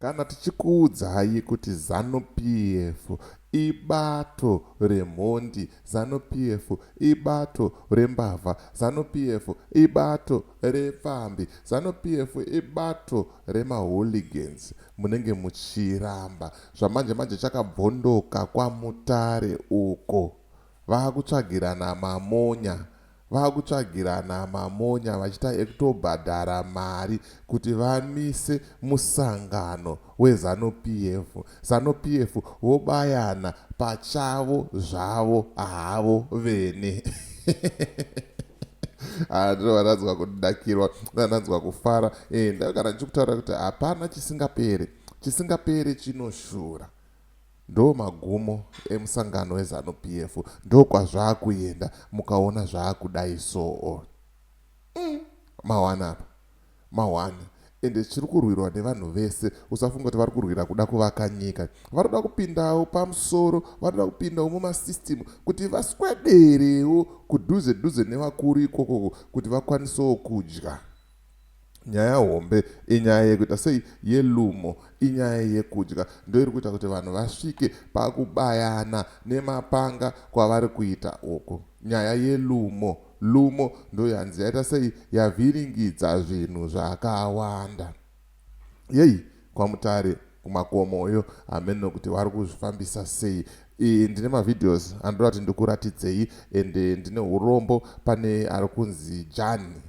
Kana tichikuudzai kuti Zanu PF ibato remhondi, Zanu PF ibato rembavha, Zanu PF ibato repfambi, Zanu PF ibato remahooligans munenge muchiramba. Zvamanje manje chakabvondoka kwaMutare uko. Vakutsvagirana mamonya vakutsvagirana mamonya vachita ekutobhadhara mari kuti vamise musangano weZanu PF, Zanu PF vobayana pachavo zvavo havo vene. Ah, ndiro vananzwa kudakirwa vananzwa kufara eh, ndakagara ndichikutaura kuti hapana chisingapere chisingapere chinoshura Ndomagumo emusangano weZanu PF ndokwazvakuenda mukaona zvakudai soo umm mahwani apa mahwani ende chirikurwirwa nevanhu vese usafunge kuti varikurwira kuda kuvaka nyika vanoda kupindawo pamusoro vanoda kupindawo mumasystem kuti vaswederewo kudhuze dhuze nevakuru ikokoko kuti vakwanisewo kudya Nyaya hombe inyaya yekuita sei yelumo inyaya yekudya ndoiri kuita kuti vanhu vasvike pakubayana nemapanga kwavari kuita uku nyaya yelumo lumo ndoyanzi yaita sei yavhiringidza zvinhu zvakawanda yei kwamutare kumakomoyo hameno kuti vari kuzvifambisa sei e, ndine mavideos andoda kuti ndikuratidzei ende ndine urombo pane ari kunzi jani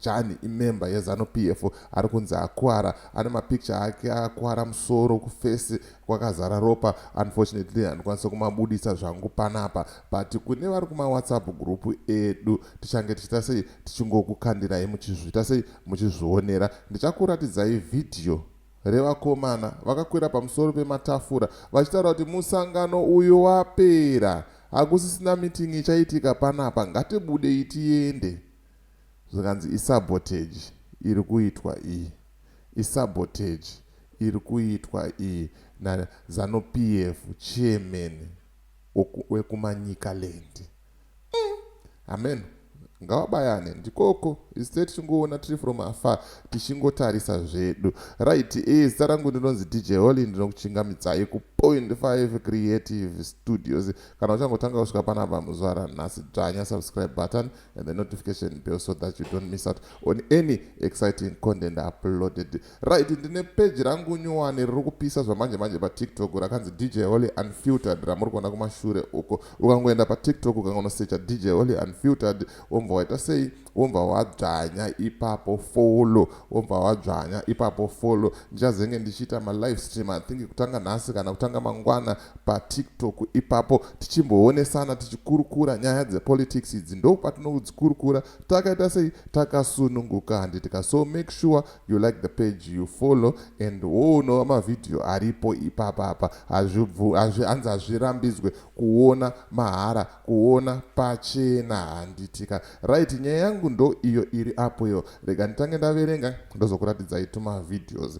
Jani imember yeZanu PF ari kunzi akuvara ane mapicture ake akuvara musoro kufesi kwakazara ropa unfortunately handikwanise kumabuditsa zvangu panapa but kune vari kumawhatsapp group edu tichange tichiita sei tichingokukandirai muchizviita sei muchizvionera ndichakuratidzai vhidhiyo revakomana vakakwira pamusoro pematafura vachitaura kuti musangano uyu wapera hakusisina mitingi ichaitika panapa ngatibudei tiende Zvikanzi isabotage iri kuitwa iyi, isabotage iri kuitwa iyi na Zanu PF chairman weku Manicaland. Umm hameno ngavabayane ndikoko isu tee tichingoona tiri from afar tichingotarisa zvedu. Right ee zita rangu ndinonzi DJ Holy ndinokuchingamidzai ku Point Five Creative Studios. Kana uchangotanga kusvika panapa muzuva ranhasi dzvanya subscribe button. and the notification bell so that you don't miss out on any exciting content uploaded right ndine peji rangu nyuwani riri kupisa zvamanje manje patiktok rakanzi dj holy unfiltered ramuri kuona kumashure uko ukangoenda patiktok ukangonosecha dj holy unfiltered womva waita sei womva wadzvanya ipapo folo womva wadzvanya ipapo folo ndichazenge ndichiita malive stream i think kutanga nhasi kana kutanga mangwana patiktok ipapo tichimboonesana tichikurukura nyaya dzepolitics idzi ndopatinodzikurukura takaita sei takasununguka handitika so make sure you like the page you follow and woonova mavhidhiyo aripo ipapa apa hazvihanzi hazvirambidzwe kuona mahara kuona pachena handitika right nyaya yangu ndo iyo iri apo iyo rega nditange ndaverenga ndozokuratidzai tumavhidhios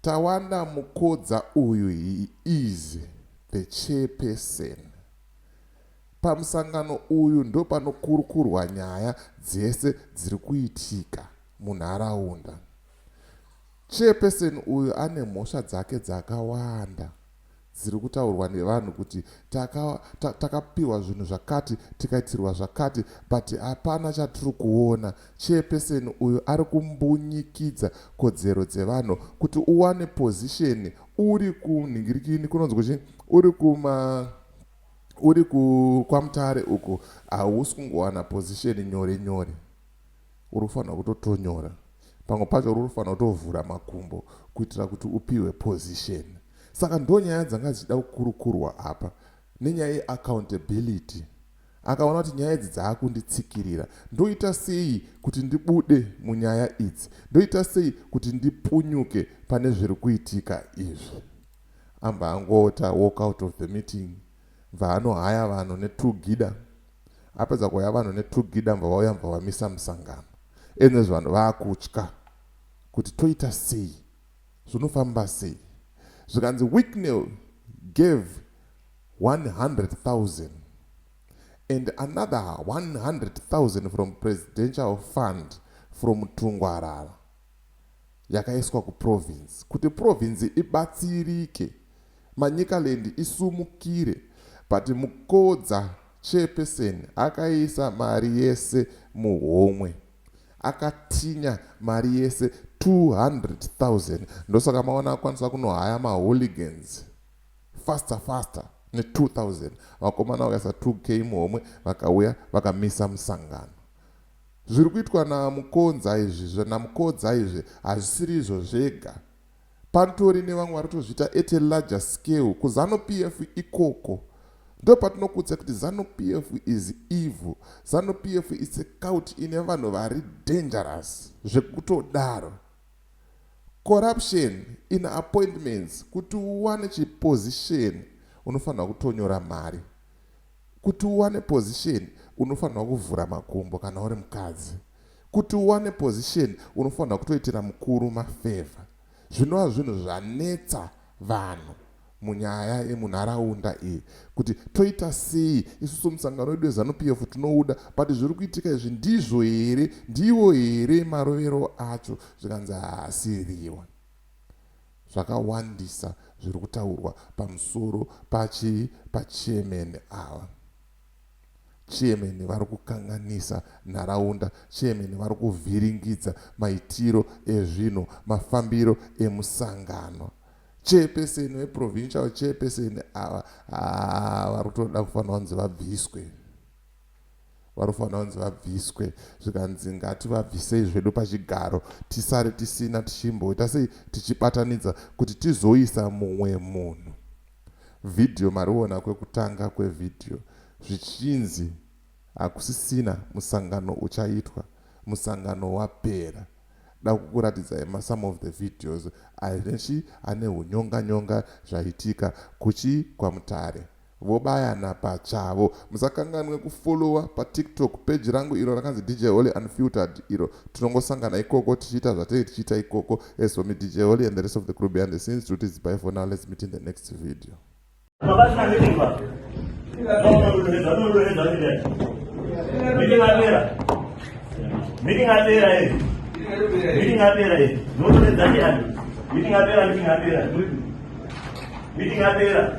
Tawana Mukodza uyu he is the chairperson. Pamusangano uyu ndopanokurukurwa nyaya dzese dziri kuitika munharaunda. Chairperson uyu ane mhosva dzake dzakawanda. dziri kutaurwa nevanhu kuti taka ta, takapihwa zvinhu zvakati tikaitirwa zvakati but hapana chatiri kuona chairperson uyu ari kumbunyikidza kodzero dzevanhu kuti uwane position uri kunhingirikini kunonzwa chi uri kuma uri ku kwamutare uku hausi kungowana position nyore nyore unofanirwa kutotonyora pamwe pacho unofanirwa kutovhura makumbo kuitira kuti upihwe position saka ndo nyaya dzanga dzichida kukurukurwa apa nenyaya yeaccountability akaona kuti nyaya idzi dzaakunditsikirira ndoita sei kuti ndibude munyaya idzi ndoita sei kuti ndipunyuke pane zviri kuitika izvi amba angota walk out of the meeting Mva anohaya vanhu ne two gida apedza kuhaya vanhu ne two gida mva vauya mva vamisa musangano and as vanhu vakutya kuti toita sei zvinofamba sei zvikanzi Wicknell gave 100,000 and another 100,000 from presidential fund from Tungwarara yakaiswa kuprovinzi kuti provinzi ibatsirike Manicaland isumukire but Mukodza chairperson akaisa mari yese muhomwe akatinya mari yese 200,000 ndosaka maona akwanisa kunohaya mahooligans faster faster ne 2000 vakomana vakaisa 2k muhomwe vakauya vakamisa musangano Zviri kuitwa na Mukonza izvi zve na Mukodza izvi hazvisiri izvo zvega. Pantori nevamwe vari kutozviita at a larger scale ku Zanu PF ikoko. Ndopatinokuudzai kuti Zanu PF is evil. Zanu PF it's a cult ine vanhu vari dangerous zvekutodaro. Corruption in appointments kuti uwane chi position unofanirwa kutonyora mari. Kuti uwane position unofanirwa kuvhura makumbo kana uri mukadzi. Kuti uwane position unofanirwa kutoitira mukuru mafavor. Zvinova zvinhu zvanetsa vanhu munyaya yemunharaunda iyi kuti toita sei isusu musangano wedu weZanu PF tinouda but zviri kuitika izvi ndizvo here ndiwo here marovero acho zvikanzi haasiriwo. Zvakawandisa zviri kutaurwa pamusoro pachii pachairman ava. Chairman vari kukanganisa nharaunda, chairman vari kuvhiringidza maitiro ezvinhu, mafambiro emusangano. Chairperson veprovincial chairperson ava haa vari kutoda kufanira kunzi vabviswe. vanofanira kunzi vabviswe zvikanzi ngativabvisei zvedu pachigaro tisare tisina tichimboita sei tichibatanidza kuti tizoisa mumwe munhu vhidhiyo mariona kwekutanga kwevhidhiyo zvichinzi hakusisina musangano uchaitwa musangano wapera da kukuratidzai masome of the videos anechi ane unyonganyonga zvaitika kuchi kwamutare Vobayana pachavo. Musakanganwe kufollower pa tiktok page rangu iro rakanzi DJ Holy Unfiltered iro tinongosangana ikoko tichiita zvatenge tichiita ikoko as for me DJ Holy and the rest of the crew behind the scenes toti zibai for now let's meet in the next video. Meeting apera. Meeting apera eh. Meeting apera eh. Ndoto nezani ani. Meeting apera, meeting apera. Meeting apera.